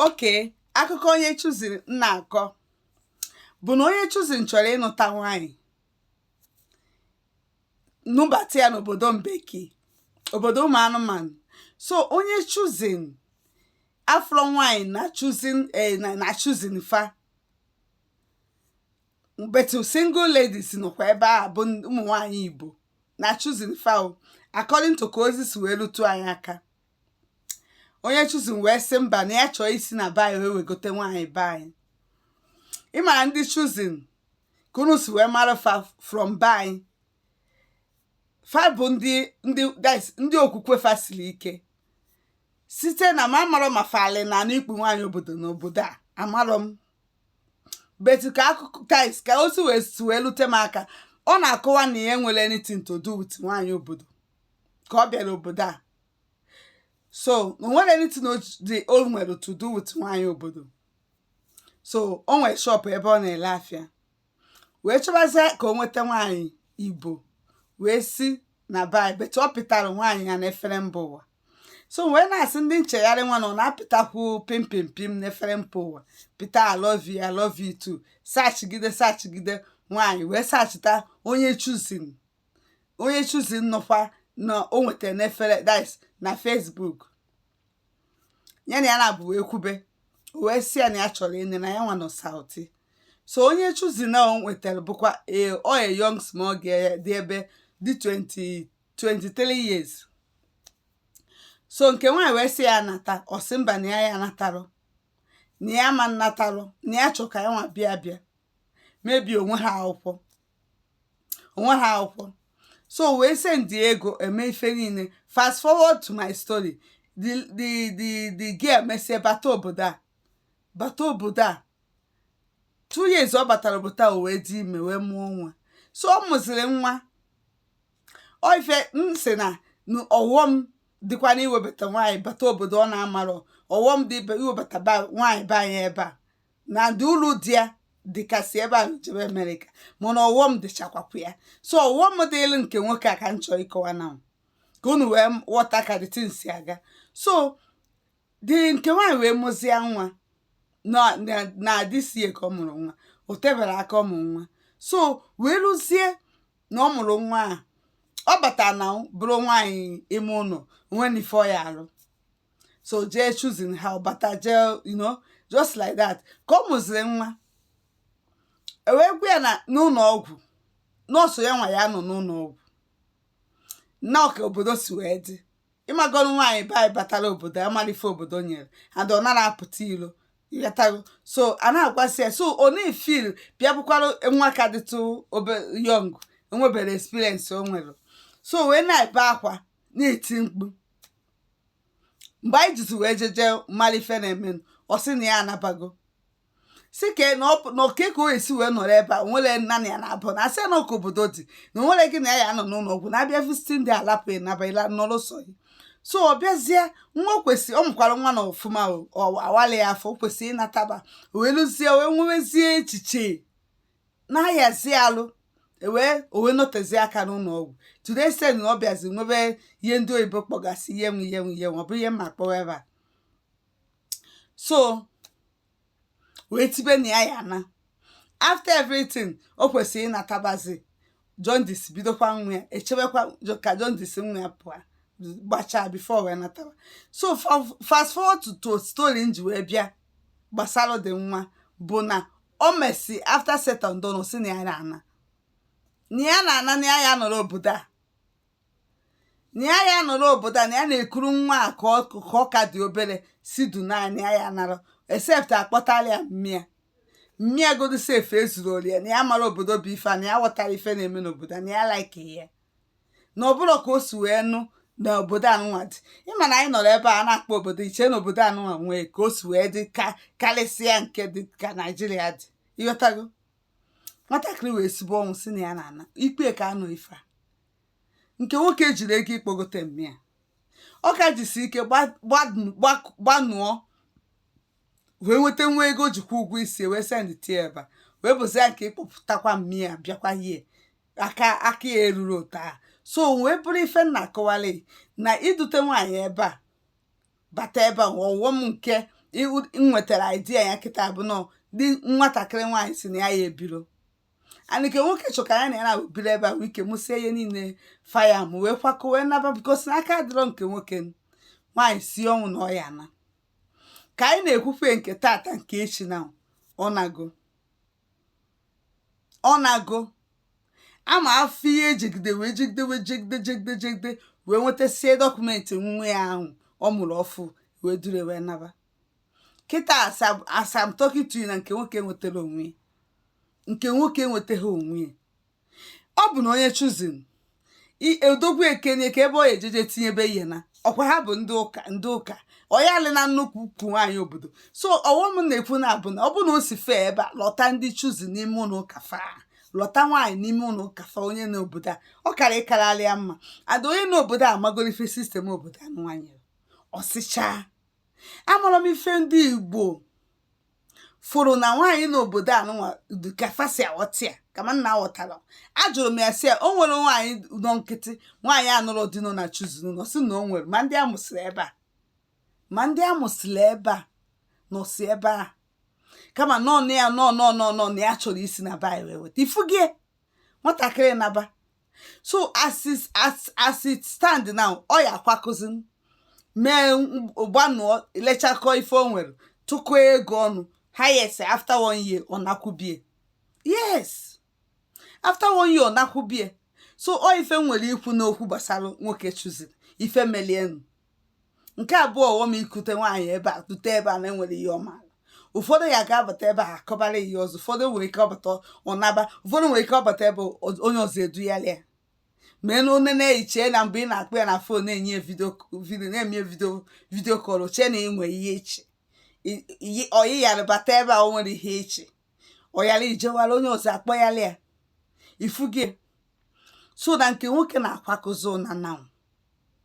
okay akụkọ onye Chosen m na-akọ bụ na onye Chosen chọrọ ịnụta nwaanyị nụbata ya n'obodo mbeki obodo ụmụ anụmanụ so onye Chosen afụrọ nwanyị na Chosen eh, na Chosen fa but single ladies nọkwa ebe a bụ ụmụ nwanyị igbo na Chosen fa according to ka ozi si wee lute anyị aka onye Chosen wee sị mba na ya chọọ isi na be anyị wee wegote nwaanyị be anyị ị mara ndị Chosen ka unu si wee mara fa from be anyị fa bụ ndị ndị that's ndị okwukwe fa siri ike site na m amarọ ma fali na anụ ikpu nwaanyị obodo na obodo a amarọ m but ka akụkọ guys ka ozi wee si wee lute m aka ọ na-akọwa na ya enwerọ anything to do with nwaanyị obodo ka ọ bịara obodo a so o nwerọ anything o ji- dị o nwere to do with nwaanyị obodo so o nwere shop ebe ọ na-ele afịa wee chọbazie ka o nweta nwaanyị igbo wee si na be anyị but ọ pịtara nwaanyị ya n'efere mba ụwa so wee na-asị ndị nchegharị nwa na ọ na-apịtakwu pim pim pim n'efere mba ụwa pịta I love you, I love you too searchigide searchigide nwaanyị wee searchita onye Chosen onye Chosen nọkwa na o nwetara n'efere that's na Facebook ya na ya naabọ wee kwube o wee sị ya na ya chọrọ ịnụ na ya nwa nọ South so onye Chosen a o nwetara bụkwa ee ọ ya young small girl dị ebe dị 20 23 years so nke nwaanyị wee sị ya anata ọ sị mba na ya ya anatarọ na ya ma nnatarọ na ya chọ ka ya nwa bịa bịa mebie onwe ha akwụkwọ onwe ha akwụkwọ so wee send ego e mee ife niile fast forward to my story the the the the girl mesie bata obodo a bata obodo a two years ọ batara obodo a o wee dị ime wee mụọ nwa so ọ mụziri nwa ọ ife m sị na na ọghọm dịkwa na iwebata nwaanyị bata obodo ọ na-amarọ ọghọm dị ibe iwebata nwaanyị be anyị ebe a na ndị uru dị ya dịka isi ebe ahụ jebe America mana ọghọm dịchakwapụ ya so ọghọm dịịlị nke nwoke a ka m chọrọ ịkọwa na ka unu wee ghọta ka the thing si aga so the nke nwaanyị wee mụzie nwa na na- na adịsie ka ọ mụrụ nwa o teberọ aka ọ mụrụ nwa so wee ruzie na ọ mụrụ nwa a ọ batara na bụrụ nwaanyị ime ụlọ onwe na ife ọ ya alụ so jee choosing ha ọbata jee you know just like that ka ọ mụziri nwa ewee gwa ya na n'ụlọ ọgwụ na ọ sọ ya nwa ya nọ n'ụlọ ọgwụ na ọ ka obodo si wee dị ị mago nwaanyị be anyị batara obodo amarọ ife obodo nyere and ọ narọ apụta ilo ịghọtago so a na-agwasị ya so ọ na-efil bịa bụkwara nwa ka dịtụ obere young enweberọ experience o nwere so wee na-ebe akwa na-eti mkpu mgbe anyị jizi wee jeje ịmara ife na-eme ọ sị na ya anabago si ka na ọ- na ọ ka o si wee nọrọ ebe a nwere nanị ya na ọ bụ na a sị na ọ ka obodo dị na o nwerọ gị na ya ya nọ n'ụlọ ọgwụ na a bịa visit ndị alapụ ya naba ila nọrọ sọ ya so ọ bịazie nwa o kwesị ọ mụkwara nwa na ọfụma o, ọ awala ya afọ o kwesịrị ịnataba o wee lụzie o wee nwewezie echiche na-ayazi alụ o wee o wee nọtezi aka n'ụlọ ọgwụ to the extent na ọ bịazi nwebe ihe ndị oyibo kpọgasị ihe nwe ihe nwe ihe nwe ọ bụ ihe mma kpọwa ebe a so wee tibe na ya ya na after everything o kwesịrị ịnatabazi jaundice bidokwa nwa ya echebekwa Jo- ka jaundice nwa ya pụọ gbachaa before wee nataba so fa- fast forward to to story m ji wee bịa gbasara dị nwa bụ na o mesi after settling down o si na ya na-ana na ya na-ana na ya ya nọrọ obodo a na ya ya nọrọ obodo a na ya na-ekuru nwa a ka ọ ka ọ ka dị obere si du naanị ya ya nara except a kpọtala ya mme ya mme ya godu sef ezurọrọ ya na ya amarọ obodo bụ ife a na ya aghọtarọ ife na-eme n'obodo a na ya like ya na ọ bụrọ ka o si wee nụ na obodo anụnwa dị ị ma na anyị nọrọ ebe a na-akpọ obodo i che na obodo anụnwa nwee ka o si wee dị ka karịsịa nke dị ka naijiria dị ịghọtago nwatakịrị wee sibe ọnwụ si na ya na ana ikpe ka anụ ife a nke nwoke ejirọ ego ịkpọgote mme ya ọ ka jisi ike gba- gbadu- gbaku- gbanụọ wee nweta nwa ego o ji kwụọ ụgwọ isi wee sendịtie ebe a wee bụzi ya nke ịkpọpụtakwa mme ya bịakwa yie aka aka ya erurọ otu a so wee bụrụ ife m na-akọwali na idute nwaanyị ebe a bata ebe a ọghọm nke nwetara idea ya kịta bụ na the nwatakịrị nwaanyị si na ya ya ebirọ na nke nwoke chọka ya na ya na-abụbiri ebe a wee ike mụsie ihe niile faya m wee kwakọ wee naba because na aka adịrọ nke nwoke nwaanyị si ọnwụ na ọya na ka anyị na-ekwufe nke tata nke echi na ọ nago ọ nago amarọ ihe e jigide wee jigide wee jigide jigide jigide wee nwetasie document nwa ya ahụ ọ mụrụ ọfụ wee duru ya wee naba kịta as am- as am talking to na nke nwoke enwetarọ onwe ya nke nwoke enwetaghị onwe ya ọ bụ na onye Chosen odogwu ekenye ka ebe ọ ya ejeje tinyebe ihe na ọkwa ha bụ ndị ụka ndị ụka ọyalị na nnukwu ukwu nwaanyị obodo so ọghọm na-ekwu na abụ na ọ bụ na o si fee ebe a lụta ndị Chosen n'ime ụlọ ụka fa lụta nwaanyị n'ime ụlọ ụka fa onye nọ obodo a ọ kara ịkararị ya mma and onye nọ obodo a magolu ife system obodo a nwaanyị ọsịchaa amarọ m ife ndị igbo fụrụ na nwaanyị n'obodo a nụnwa dị ka fa si aghọta ya ka ma nna aghọtara ajụrụ m ya sị ya o nwere nwaanyị nọ nkịtị nwaanyị anụrọ di nọ na Chosen ụnụ ọ sị na o nwere ma ndị a mụsịrị ebe a ma ndị a mụsịrị ebe a nọsị ebe a kama nọ na ya nọ nọ nọ nọ na ya chọrọ isi na be ayị wee weta ị fụgo ya nwatakịrị naba so as it as as it stand now ọ ya akwakọzi mee gbanụọ lechakọ ife o nwere tụkọ ego ọnụ highest after one year ọ nakwu be ya yes after one year ọ nakwu be ya so ọ ife m nwere ikwu n'okwu gbasara nwoke Chosen ife melu ya nụ nke abụọ ọghọm ikute nwaanyị ebe a dute ebe a na-enwere ihe ọma ụfọdụ ya ga-abata ebe a akọbara ihe ọzọ ụfọdụ nwere ike ọ bata ọ naba ụfọdụ nwere ike ọ bata ebe o- onye ọzọ eduyala ya ma enu one na-ehiche na mgbe ị na-akpọ ya na phone na-enye ya video video na-eme video video call ọ chee na ị nwere ihe iche I- iyi- ọyị yara bata ebe a o nwere ihe iche ọyara ijewara onye ọzọ akpọyala ya ị fụgo so na nke nwoke na-akwakọzi ụna nanwụ